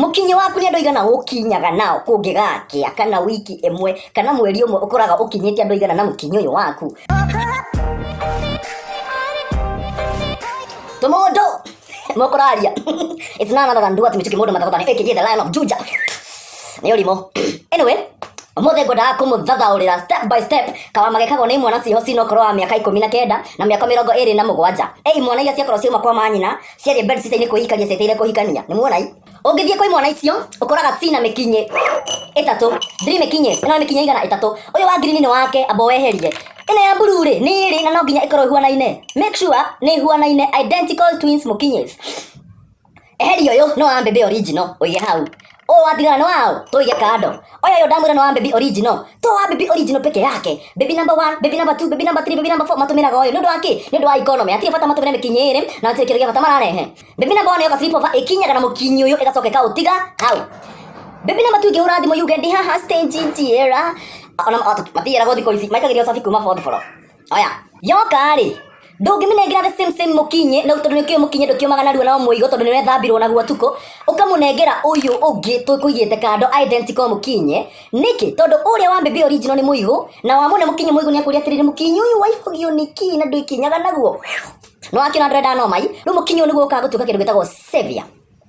Mũkinyĩ waku nĩ andũ aigana ũkinyaga nao kũngĩgakĩa kana wiki ĩmwe kana mweri ũmwe ũkoraga ũkinyĩte andũ aigana na mũkinyĩ ũyũ waku. Tũmũndũ mũkũraria it's none other than Duarte Mĩtũkĩ mũndũ mathathani aka the Lion of Juja nĩ ũrimũ anyway ũmũthĩ ngwendaga kũmũthathaũrĩra step by step kawamage kagwo nĩ imwana ciĩho cinokorwo wa mĩaka ikũmi na kenda na mĩaka mĩrongo ĩrĩ na mũgwanja ĩ imwana iria ciakorwo ciauma kwa manyina ciarĩ bed sitainĩ kwĩhikania cieteire kũhikania nĩ muonai ũngĩthiĩ kwĩ mwana icio ũkoraga cina mĩkinyĩ ĩtatũ ndiri mĩkinyĩ ĩno nĩ mĩkinyĩ igana ĩtatũ ũyũ wa ngirini nĩ wake amba weherie ĩno ya blue rĩ nĩ ĩrĩ na no nginya ĩkorwo ĩhuanaine make sure nĩ ĩhuanaine identical twins mũkinyĩ eheria ũyũ no wa mbembe original ũige hau Ũũ oh, watigana nĩ wao tũige kando oya yo ndamwĩra nĩ wa baby original to wa baby original peke yake baby number 1 baby number 2 baby number 3 baby number 4 matũmĩraga ũyũ nĩ ũndũ wa kĩ nĩ ũndũ wa economy atirĩ bata matũmĩre mĩkinyĩ ĩrĩ na atirĩ kĩndũ gĩa bata mararehe baby number 1 yoka slip over ĩkinyaga na mũkinyĩ ũyũ ĩgacoka ĩkaũtiga hau baby number 2 ngĩhũra thimũ yuge ndi haha stage njiera ona matiyeraga thikũ ici maikagĩria ũcabi kuma bondboro oya yoka rĩ ndũngĩmĩnengera the same same mũkinyĩ na tondũ nĩkĩo mũkinyĩ ndũkĩũmaga narua na mũigo tondũ nĩwethambirwo naguo tukũ ũkamũnengera ũyũ ũngĩ tũkũigĩte kando identical mũkinyĩ nĩkĩ tondũ ũrĩa wa mbembe original nĩ mũigũ na wa mũne mũkinyĩ mũigũ nĩakũria atĩrĩrĩ mũkinyĩ ũyũ waihũgio nĩ kii na ndwĩkinyaga naguo nĩwakĩona ndũrenda nomai rĩu mũkinyĩ ũyũ nĩguo ũkaga gũtuĩka kĩndũ gĩtagwo savior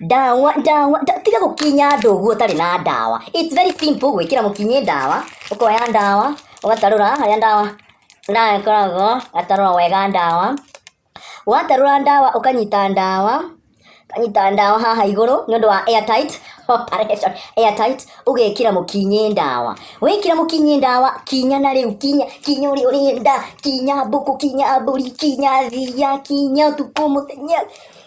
ndawa ndawa nda- tiga gũkinya andũ ũguo ũtarĩ na ndawa its very simple gwĩkĩra mũkinyĩ ndawa ũkoya ndawa ũgatarũra harĩa ndawa ndawa ĩkoragwo ũgatarũra wega ndawa watarũra ndawa ũkanyita ndawa ũkanyita ndawa haha igũrũ nĩ ũndũ wa airtight operation airtight ũgekĩra mũkinyĩ ndawa wekĩra mũkinyĩ ndawa kinya na rĩu kinya kinya ũrĩa ũrenda kinya mbũkũ kinya mbũri kinya thiya kinya ũtukũ mũthenya